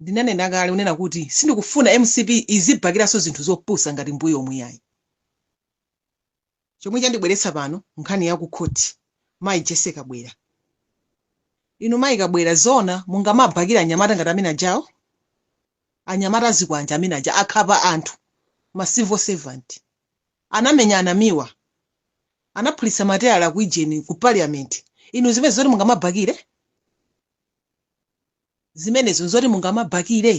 Ndinanena kale kunena kuti sindikufuna mcp izibakiranso zinthu zopusa ngati mbuyomu iyayi. Chomwe chandibweretsa pano nkhani ya ku khoti mayi Jessie Kabwila. Inu mayi Kabwila zoona mungamabakire anyamata ngati amene ajawo? Anyamata azikwanje amene aja ankhapa anthu ma civil servant, anamenya a Namiwa, anaphulitsa mateyala ku ijeni ku parliament inu zimenezo nzoti mungamabakire? Zimenezo nzoti mungamabakire?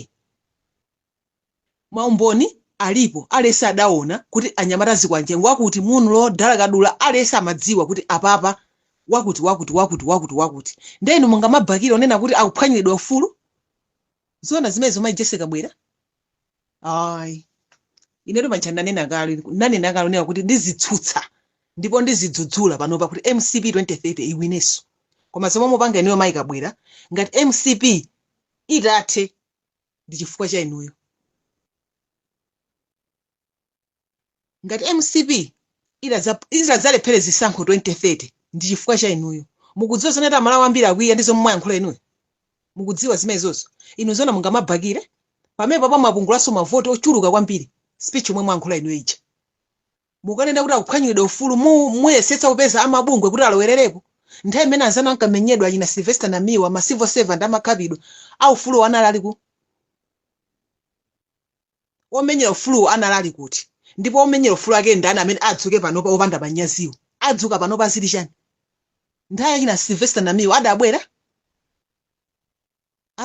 Maumboni alipo, aliyense adaona kuti anyamata azikwanje ngwakuti, munlo, dalakadula, aliyense amadziwa kuti apapa wakuti wakuti wakuti wakuti wakuti. Ndiye inu mungamabakire onena kuti akuphwanyiridwa ufulu? Zoona zimenezo Mayi Jessie Kabwila? ayi inetu paja ndanena kale ndanena kale kunena kuti ndizitsutsa ndipo ndizidzudzula panopa kuti mcp 2030 iwineso koma zomwe mukupanga inuyo mayi kabwila ngati mcp itathe ndi chifukwa cha inuyo ngati mcp itadza itadzalephere zisankho 2030 ndi chifukwa cha inuyo mukudziwa zonena kuti amalawi ambiri akwiya ndi zomwe mwayankhula inuyo mukudziwa zimenezo inu zona mungamabakire pamenepapa mwapungulaso mavoti ochuluka kwambiri speech yomwe mwayankhula inuyo ija mukanena kuti akuphwanyidwa ufulu mu muyesetsa kupeza amabungwe kuti alowererepo nthawi imene anzanu ankamenyedwa achina sylvester namiwa ma civil servant amakhapidwa aufuluwo anali ali ku omenyera ufuluwo anali ali kuti? ndipo omenyera ufulu ake ndani amene adzuke panopa opanda manyaziwo? adzuka panopa aziti chani? nthawi ya achina Sylvester Namiwa adabwera?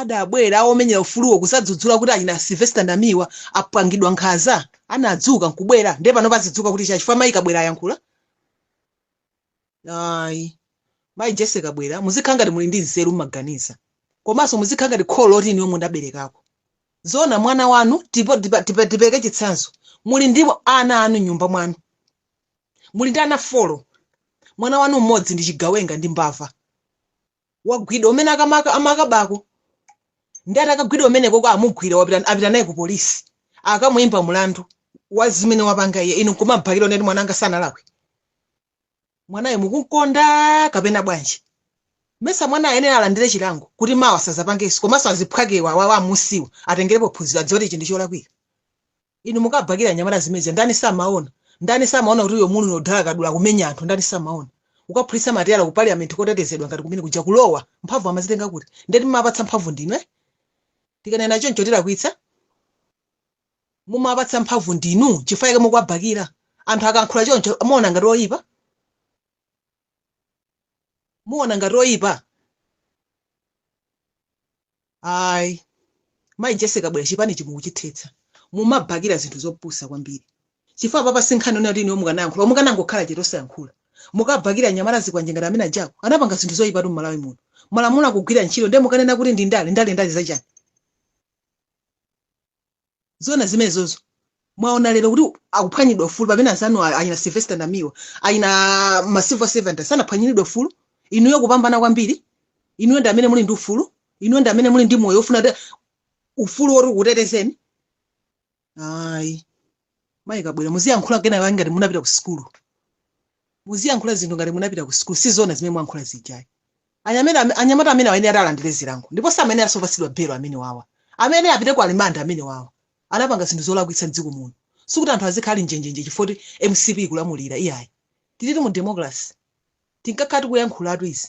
adabwera omenyera ufuluwo kuzadzudzula kuti achina Sylvester Namiwa apangidwa nkhanza? anadzuka nkubwera? ndiye panopa azidzuka kuti chani chifukwa Mayi Kabwila ayankhula? ayi mayi jessie kabwila muzikhala ngati muli ndi nzeru muziganiza komanso muzikhala ngati kholo loti inuyo mudaberekako zona mwana wanu tipo- tipa- tipa- tipereke chitsanzo muli ndi ana anu nyumba mwanu muli ndi ana folo mwana wanu mmodzi ndi chigawenga ndi mbava wagwidwa kumene akamaka amakabako ndi atakagwidwa umeneko kwa amugwira wapita apita naye ku polisi akamuyimba mlandu wa zimene wapanga iye inu nkumabakira kuti mwana anga sanalakwe mwanayo mukumukonda kapena bwanji mesa mwana ayenera alandire chilango kuti mawa sazapangenso komanso azibale akewa awa amusiyawa atengerepo phunziro adziwe kuti ichi ndi cholakwika Inu mukubakila anyamata zimene zija ndani samaona? Ndani samaona kuti uyo Munlo Dalakadula akumenya anthu ndani samaona? Kukaphulitsa mateyala ku parliament kotetezedwa ngati kumene kuja kulowa? Mphamvu amazitenga kuti? Ndiye timawapatsa mphamvu ndinu eh? Tikanena choncho tilakwitsa? Mumawapatsa mphamvu ndinu chifukwa chake mukuwabakila. Anthu akayankhula choncho muona ngati oyipa? Muona ngati oyipa? Ayi. Mayi Jessy Kabwila chipanichi mukuchithetsa. Mumabakira zinthu zopusa kwambiri. Chifukwa apa pano si nkhani yonena kuti inuyo mukanayankhula koma mukanangokhala chete osayankhula. Mukabakira anyamata azikwanje ngati amene ajawo. Anapanga zinthu zoipatu m'Malawi muno. Malamulo akugwira ntchito ndiye mukanena kuti ndi ndale, ndale ndale za chani? Zoona zimenezozo. Mwaona lero kuti akuphwanyidwa ufulu pamene anzanu a- achina Sylvester Namiwa, achina macivil servant sanaphwanyiridwe ufulu. Inuyo kupambana kwambiri. Inuyo ndi amene muli ndi ufulu. Inuyo ndi amene muli ndi moyo ofuna kuti ufulu woti ukutetezeni. Ayi. Mayi Kabwila muziyankhula kaye ngati munapita ku sukulu. muziyankhula zinthu ngati munapita ku sukulu sizona zimene mwayankhula zija ayi anyamera anyamata amenewa ayenera alandire zilango ndipo samayeneranso opatsidwa belo amene wawa amene apite ku rimandi amene wawa anapanga zinthu zolakwitsa mdziko muno sikuti anthu azikhala ali njenjenje chifukwa choti mcp ikulamulira iyayi tilitu mu democracy tinkakhala tikuyankhulatu izi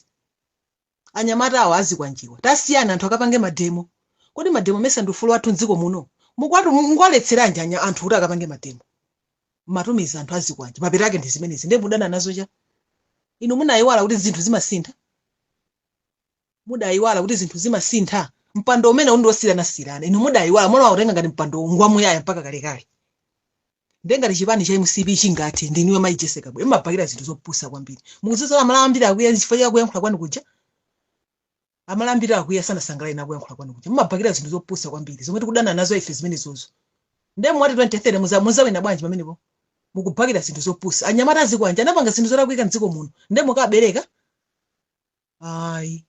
Anyamata awa azikwanjewa tasiyani anthu akapange mademo kodi mademo amesa ndi ufulu wathu mdziko muno mukuwatu mukuwaletseranji anya anthu kuti akapange mademo mmatumiza anthu azikwanje mapeto ake ndi zimenezi ndiye mudana nazo chani inu munayiwala kuti zinthu zimasintha mudayiwala kuti zinthu zimasintha mpando umene uja ndi wosiranasirana inu mudayiwala munawutenga ngati mpando ngwamuyaya mpaka kalekale Ndiye ngati chipani cha mcp chingathe ndi inuyo Mayi Jessy Kabwila mumabakira zinthu zopusa kwambiri. Mukudziwa zoti amalawi ambiri akwiya ndi chifukwa cha kuyankhula kwanu kuja? Amalawi ambiri akwiya sanasangalale nawo kuyankhula kwanu kuja. Mumabakira zinthu zopusa kwambiri zomwe tikudana nazo ife zimenezozo. Ndiye mumati 2030 muza muzawina bwanji pamenepo? Mukubakira zinthu zopusa. Anyamata azikwanje anapanga zinthu zolakwika m'dziko muno. Ndiye mukabakira? Ayi.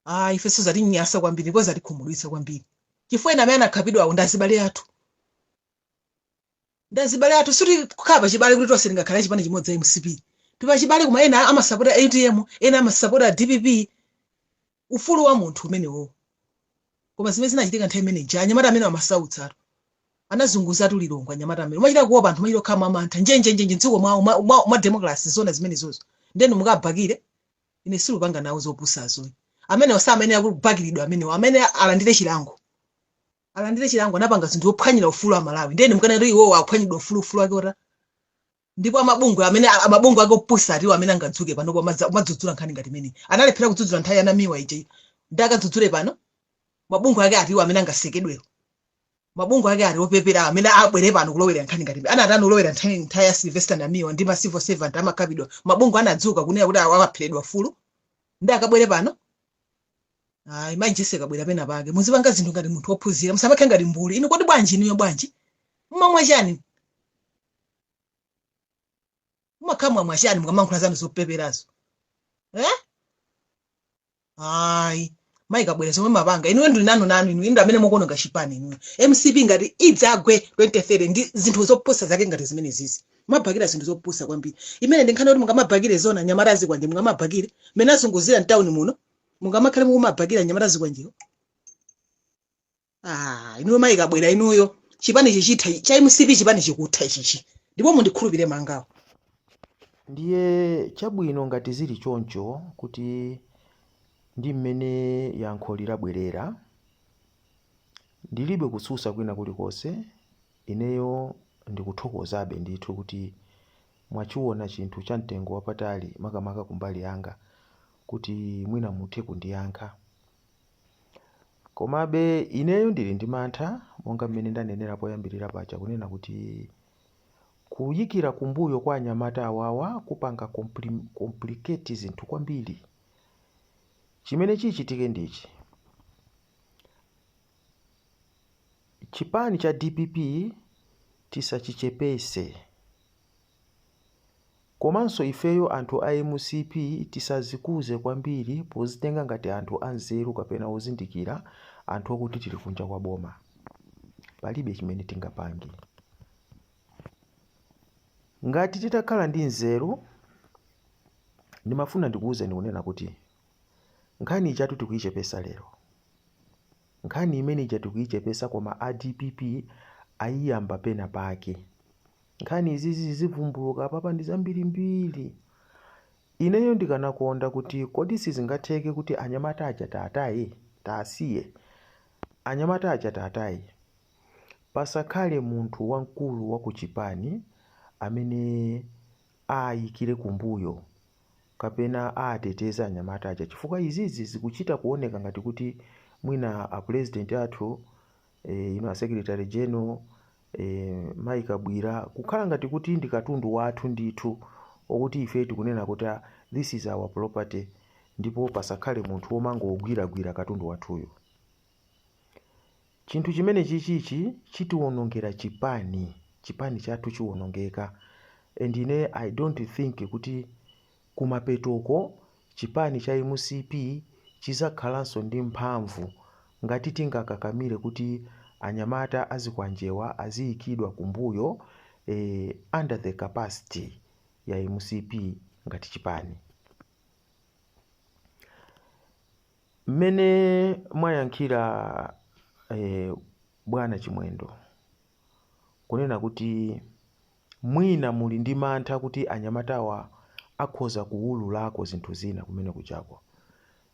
ah ifenso zatinyansa kwambiri ndipo zatikhumudwitsa kwambiri chifukwa ena amene anakhapidwawo ndi azibale athu ndi azibale athu sitikukhala pachibale kuti tonse tingakhale chipani chimodzi a mcp tipachibale koma ena amasapota utm ena amasapota dpp ufulu wa munthu umenewowo koma zimene zinachitika nthawi imene ija anyamata amene amasautsa anthu anazunguzatu lilongwe anyamata amene umachita kuopa anthu umachita kukhala mwamantha njenjenjenje mdziko mwawo mwa- mwa- mwa democracy zona zimenezozo nde inu mukabakire Ine sindikupanga nawo zopusazo. Amenewa samayenera kubakiridwa amenewa. Amayenera alandire chilango. Alandire chilango anapanga zinthu zophwanyira ufulu Amalawi. Ndiye inu mukanati iwowo aphwanyiridwa ufulu ufulu wake uti. Ndipo amabungwe amene a- amabungwe ake opusa atiwo amene angadzuke pano pomadza- kumadzudzula nkhani ngati imeneyi. Analephera kudzudzula nthawi ya Namiwa ija. Ndiye akadzudzule pano? Mabungwe ake atiwo amene angasekedwewo. mabungwe ake ati opeperawo amene abwere pano kulowerera nkhani ngati imeneyi. anatani kulowera nthawi nthawi ya sylvester namiwa ndi ma civil servant amakhapidwa mabungwe anadzuka kunena kuti awa apheredwa ufulu nde akabwere pano ayi mayi jessy kabwila pena pake muzipanga zinthu ngati munthu wophunzira musamakhale ngati mbuli inu kodi bwanji inuyo bwanji mmamwa chani mumakhala mwachani mukamayankhula zanu zopeperazo eh? ayi mayi kabwira zomwe mumapanga inuwe ndili nanu nanu inu inu amene mukuononga chipani inuwe mcp ngati idzagwe 2030 ndi zinthu zopusa zake ngati zimene izizi mumabhakira zinthu zopusa kwambiri imene ndi nkhani yoti mungamabhakire zoona anyamata azikwanje mungamabhakire mmene azunguzira mtawuni muno mungamakhale mukumabhakira anyamata azikwanjewo ah inuyo mayi kabwira inuyo chipani chikutha ichi, cha mcp chipani chikutha ichichi ndipo mundikhulupire mangawa ndiye chabwino ngati zili choncho kuti ndi mmene yankho lalabwerera ndilibe kutsusa kwina kulikonse ineyo ndikuthokozabe ndithu kuti mwachiona chinthu cha mtengo wapatali makamaka kumbali yanga kuti mwina muthe kundiyankha Komabe, ineyo ndili ndi mantha, monga mmene ndanenera poyambirira paja, kunena kuti kuyikira kumbuyo kwa anyamata awawa kupanga complicate zinthu kwambiri. Chimene chichitike ndi ichi, chipani cha dpp tisachichepese. Komanso ifeyo anthu a mcp tisazikuze kwambiri pozitenga ngati anthu anzeru kapena ozindikira anthu okuti tili kunja kwa boma palibe chimene tingapange. Ngati titakhala ndi nzeru ndimafuna ndikuuzeni kunena kuti nkhani ijatu tikuichepesa lero. Nkhani imene ija tikuichepesa koma a dpp ayiyamba pena pake. Nkhani izizi zizivumbuluka apapa ndi zambirimbiri. Ineyo ndikanakonda kuti kodi sizingatheke kuti anyamata aja titaataya, titaasiya. Anyamata aja titaataya. Pasakhale munthu wamkulu wa kuchipani amene aayikire kumbuyo kapena aateteze anyamata aja chifukwa izizi zikuchita kuoneka ngati kuti mwina apulezidenti athu, inu asekilitale genero, E, Mayi Kabwira, kukhala ngati kuti ndi katundu wathu ndithu wakuti ife tikunena kuti ah, this is our property ndipo pasakhale munthu womangogwiragwira katundu wathuyu. Chinthu chimene chichichi chitiwonongera chipani, chipani chathu chiwonongeka and ine I don't think kuti Kumapetoko, chipani cha mcp chizakhalanso ndi mphamvu ngati tingakakamile kuti anyamata azikwanjewa aziyikidwa kumbuyo eeh under the capacity ya mcp ngati chipani. Mmene mwayankhira eeh bwana chimwendo kunena kuti. Mwina muli ndi mantha kuti anyamatawa akhoza kuwululako zinthu zina kumene kujako.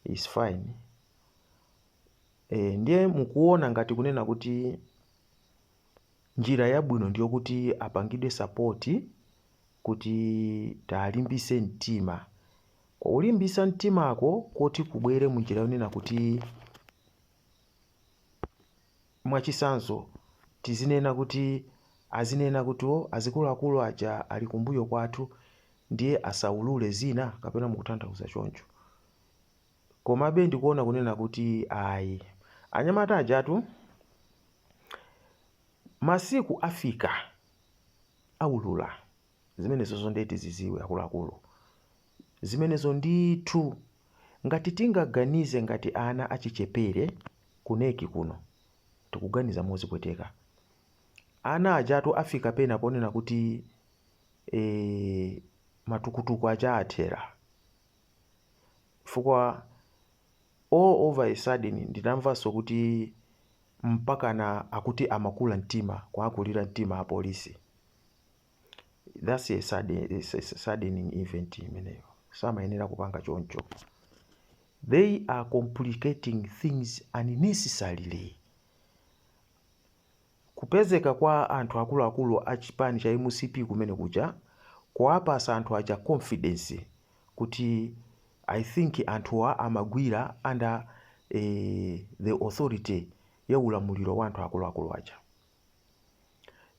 It's fine. Eeh, ndiye mukuona ngati kunena kuti njira yabwino ndiyokuti apangidwe support kuti tawalimbise mtima. Kulimbisa mtimako koti kubwere munjira yonena kuti Mwachitsanzo, tizinena kuti azinena kuti oh, azikuluakulu aja ali kumbuyo kwathu ndiye asaulule zina kapena mukutanthauza choncho. Komabe ndikuona kunena kuti ayi, anyamata ajatu masiku afika aulula zimenezozo ndiye tiziziwe akuluakulu. zimenezo ndithu. Ngati tingaganize ngati ana achichepere ku Neki kuno, tikuganiza mozipweteka. Ana ajatu afika pena ponena kuti eeh matukutuku aja athera. Chifukwa all over a sudden ndinamvanso kuti mpakana akuti amakula mtima, kuwakulira mtima apolisi. that's a saddening event imeneyo samayenera kupanga choncho they are complicating things unnecessarily kupezeka kwa anthu akuluakulu a chipani cha mcp kumene kuja kuwapasa anthu aja confidence kuti i think anthuwa amagwira under eh, the authority ya ulamuliro wa anthu akuluakulu aja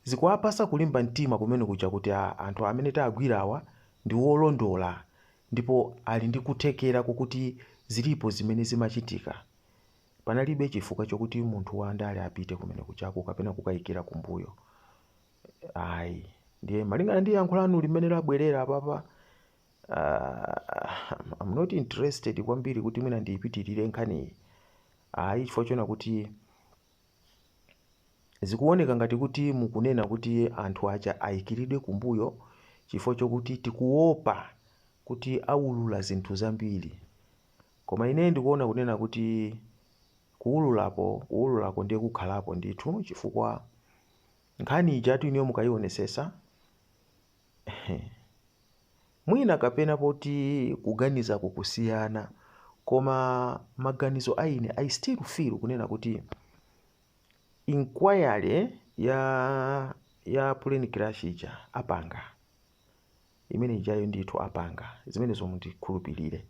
Zikuwapasa kulimba mtima kumene kuja kuti a, anthu amene tagwirawa ndi wolondola ndipo ali ndi kuthekera kokuti zilipo zimene zimachitika. Panalibe chifukwa chokuti munthu wa ndale apite kumene kujako kapena kukayikira kumbuyo. Ayi. Ndiye malingana ndi yankho lanu limene labwerera apapa, uh, I'm not interested kwambiri kuti mwina ndiyipitirire nkhaniyi. Ayi chifukwa chonena kuti Zikuwoneka ngati kuti mukunena kuti anthu aja ayikilidwe kumbuyo chifukwa chokuti tikuwopa kuti awulula zinthu zambiri. Koma ine ndikuwona kunena kuti kuwululako, kuwululako ndiye kukhalapo ndithu chifukwa nkhani ijatu inuyo mukayiwonetsetsa, Mwina kapena poti kuganiza ku kusiyana koma maganizo a ine I still feel kunena kuti inquiry ya ya plane crash ija apanga imene ijayo ndithu apanga zimenezo mundikhulupirire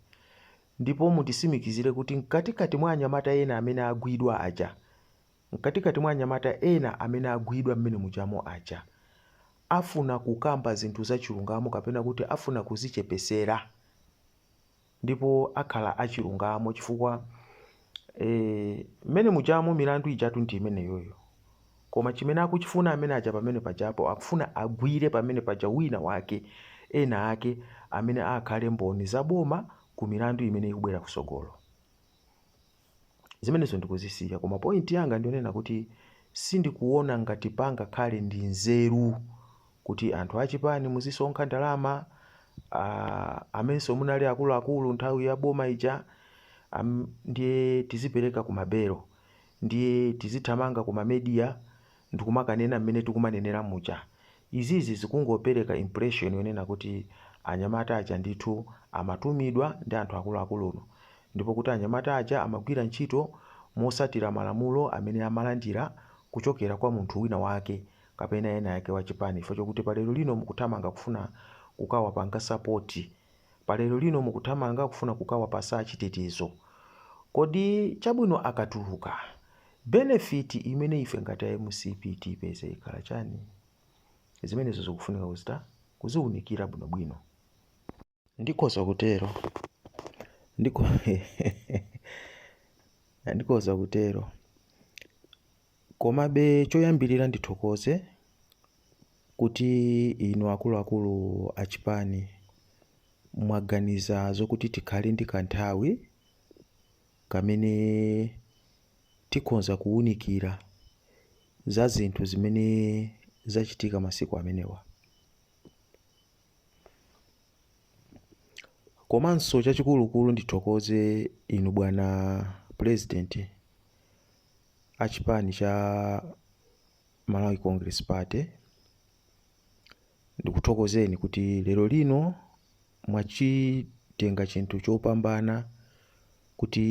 ndipo mundisimikizire kuti mkatikati mwa anyamata ena amene agwidwa aja Mkatikati mwa anyamata ena amene agwidwa mmene mujamo aja, afuna kukamba zinthu za chilungamo kapena kuti afuna kuzichepesera ndipo akhala achilungamo chifukwa ee mmene mujamo milandu ijatu ndi imeneyoyo koma chimene akuchifuna amene aja pamene pajapo akufuna agwire pamene paja wina wake ena ake amene aakhale mboni za boma ku milandu imene ikubwera kusogolo. Zimenezo ndikuzisiya koma point yanga ndiyonena kuti sindikuona ngati pangakhale ndi nzeru kuti anthu achipani muzisonkha ndalama uh, amenso munali akuluakulu nthawi ya boma ija um, ndiye tizipereka kumabelo ndiye tizithamanga kumamedia ndikumakanena mmene tikumanenera muja, izizi zikungopereka impression yonena kuti anyamata aja ndithu amatumidwa ndi anthu akuluakuluinu ndipo kuti anyamata aja amagwira ntchito motsatira malamulo amene amalandira kuchokera kwa munthu wina wake kapena ena ake wa chipani chifukwa chokuti pa lero lino mukuthamanga kufuna kukawapanga support, pa lero lino mukuthamanga kufuna kukawapasa chitetezo. Kodi chabwino akatuluka Benefit imene ife ngati a mcp tipeze ikhala chani? Zimenezo zikufunika kuchita kuziunikira bwino bwino. Ndikhoza kutero. Ndikhoza kutero. Komabe choyambirira ndithokoze kuti inu akuluakulu a chipani mwaganiza zokuti tikhale ndi kanthawi kamene tikhonza kuunikira za zinthu zimene zachitika masiku amenewa. Komanso chachikulukulu ndithokoze inu bwana President wa chipani cha Malawi Congress Party Ndikuthokozeni kuti lero lino mwachitenga chinthu chopambana kuti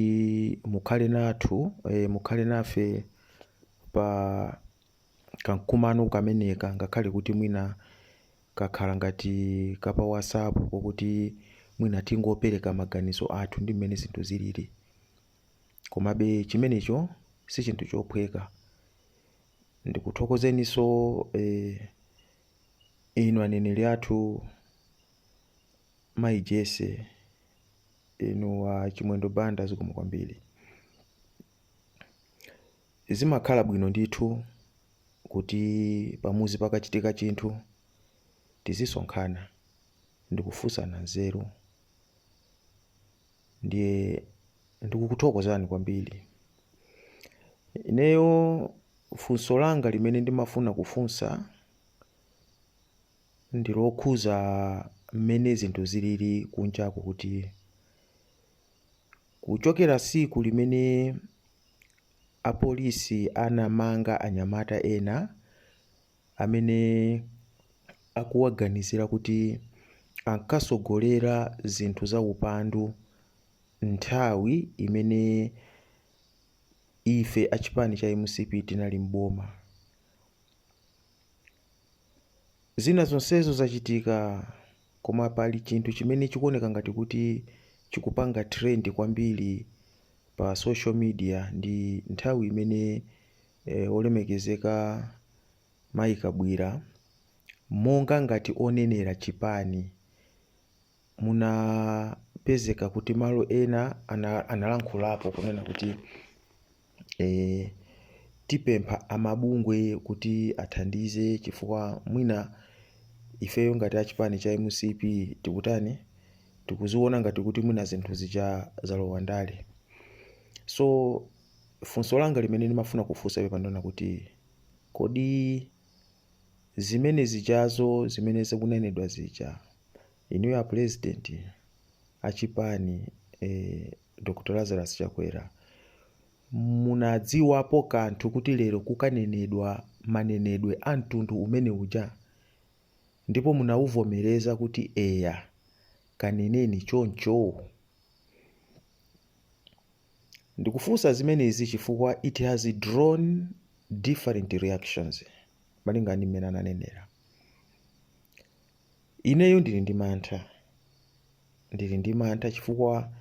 mukhale nathu eh, mukhale nafe pa kamkumano kameneka ngakhale kuti mwina kakhala ngati kapa WhatsApp kokuti mwina tingopereka maganizo athu ndi mmene zinthu zilili komabe chimenecho si chinthu chophweka Ndikuthokozeniso inu aneneri athu mayi Jessie inu a Chimwendo Banda zikomo kwambiri. Zimakhala bwino ndithu kuti pamuzi pakachitika chinthu tizisonkhana ndikufusana nzeru. ndiye ndikukuthokozani kwambiri. Ineyo funso langa limene ndimafuna kufunsa ndi lokhuza mmene zinthu zilili kunjako kuti kuchokera tsiku limene apolisi anamanga anyamata ena amene akuwaganizira kuti ankatsogolera zinthu zaupandu nthawi imene ife a chipani cha mcp tinali m'boma. Zina zonsezo zachitika koma pali chinthu chimene chikuoneka ngati kuti chikupanga trend kwambiri pa social media ndi nthawi imene Olemekezeka Mayi Kabwira, monga ngati onenera chipani, anapezeka kuti malo ena analankhulapo kunena kuti tipempha amabungwe kuti athandize chifukwa mwina ifeyo ngati a chipani cha mcp tikutani, tikuziona ngati kuti mwina zinthu zija zalowa ndale. So. Funso langa limene ndimafuna kufunsa pepa ndi lonena kuti kodi zimene zijazo zimene zikunenedwa zija inuyo apulezidenti achipani eh, Dr Lazarus Chakwera munadziwapo kanthu kuti lero kukanenedwa manenedwe a mtundu umene uja ndipo munawavomereza kuti eya kaneneni choncho Ndikufunsa zimenezi chifukwa it has drawn different reactions malingana ndi mmene ananenera. Ineyo ndili ndi mantha, ndili ndi mantha chifukwa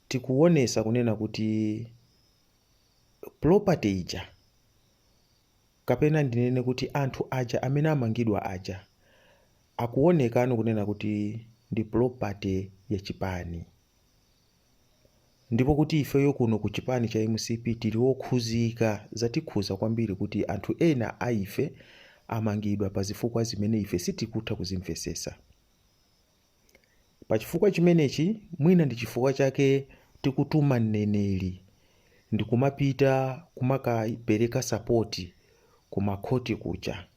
tikuonesa kunena kuti property ija kapena ndinene kuti anthu aja amene amangidwa aja akuonekano kunena kuti ndi property ya chipani. Ndipo kuti ifeyo kuno ku chipani cha mcp tili okhuzika, zatikhuza kwambiri kuti anthu ena a ife amangidwa pa zifukwa zimene ife sitikutha kuzimvesesa. Pa chifukwa chimenechi mwina ndi chifukwa chake tikutuma mneneri ndikumapita kumakapeleka sapoti ku ma khoti kuja.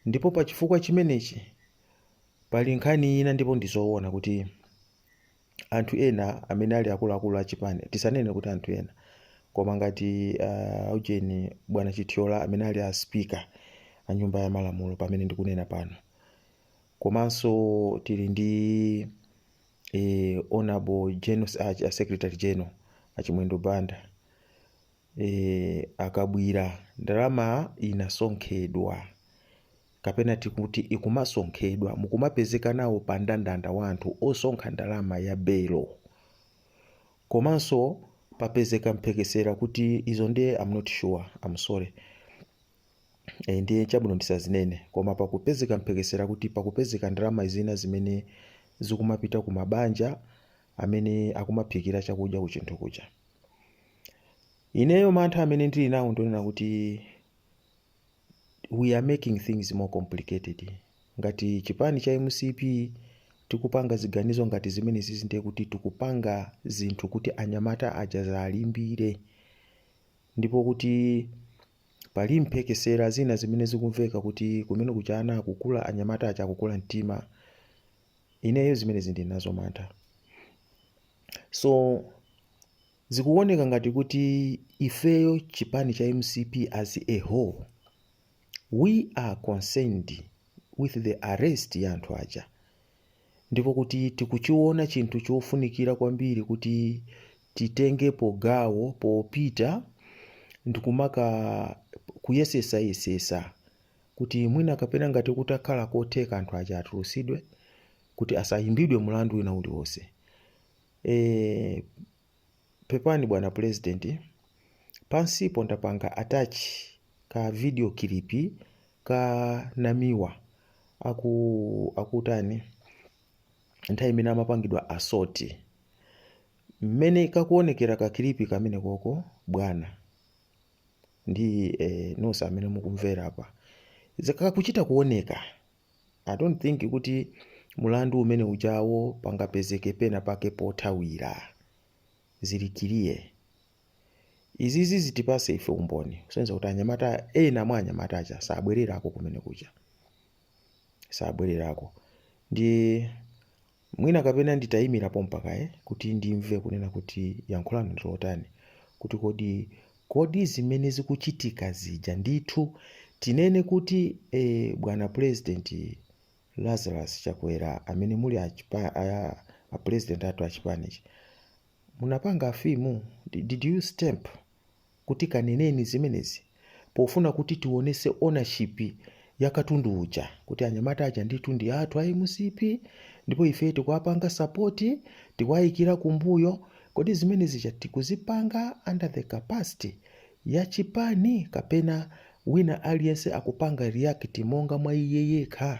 Ndipo pa chifukwa chimenechi pali nkhani ina ndipo ndi zoona kuti. anthu ena amene ali akuluakulu a chipani tisanene kuti anthu ena koma ngati uh, ujeni bwana chithyola amene ali a speaker a nyumba ya malamulo pamene ndikunena pano komanso tili ndi eh, honorable, uh, secretary general achimwendo banda e, akabwira ndalama inasonkhedwa kapena tikuti ikumasonkhedwa mukumapezeka nawo pa ndandanda wa anthu osonkha ndalama ya belo komanso papezeka mphekesera kuti izo ndiye I'm not sure I'm sorry e, ndiye chabwino ndisazinene koma pakupezeka mphekesera kuti pakupezeka ndalama zina zimene zikumapita ku mabanja amene akumaphikira chakudya ku chinthu kuja ineyo mantha amene ndili nawo ndionena kuti we are making things more complicated ngati chipani cha mcp tikupanga ziganizo ngati zimene zizi ndiye kuti tikupanga zinthu kuti anyamata aja adzalimbire ndipo kuti pali mphekesera zina zimene zikumveka kuti kumene kuja akukula anyamata aja akukula mtima ineyo zimenezi ndili nazo mantha so zikuoneka ngati kuti ifeyo chipani cha mcp as a whole we are concerned with the arrest ya anthu aja ndipo kuti tikuchiona chinthu chofunikira kwambiri kuti titengepo gawo popita ndikumakayesesayesesa kuti mwina kapena ngati kutakhala kotheka anthu aja atulutsidwe kuti asayimbidwe mulandu wina uliwonse. E, pepani bwana pulezidenti, pansipo ndapanga atachi ka video kilipi ka Namiwa akutani nthawi imene amapangidwa asoti mmene kakuonekera kakilipi kamene koko bwana ndi eh, nonse amene mukumvera apa zikuchita kuoneka i don't think kuti mulandu umene ujawo pangapezeke pena pake pothawira zili kiliya izizi zitipase ife umboni kusonyeza kuti anyamata ena mwa anyamata aja sabwererako kumene kuja sabwererako ndi Mwina kapena nditayimira pompa kaye kuti ndimve kunena kuti yankho lanu ndi lotani kuti kodi, kodi zimene zikuchitika zija ndithu tinene kuti eh bwana pulezidenti Lazarus Chakwera amene muli a chipa, a, a pulezidenti athu a chipanichi munapanga afimu, did you stamp? kuti kaneneni zimenezi pofuna kuti tiwonetse ownership ya katundu uja kuti anyamata aja ndithu ndi athu a mcp ndipo ifeyo tikuwapanga support tikuwayikira kumbuyo kodi zimene zija tikuzipanga under the capacity ya chipani kapena wina aliyense akupanga react monga mwa iye yekha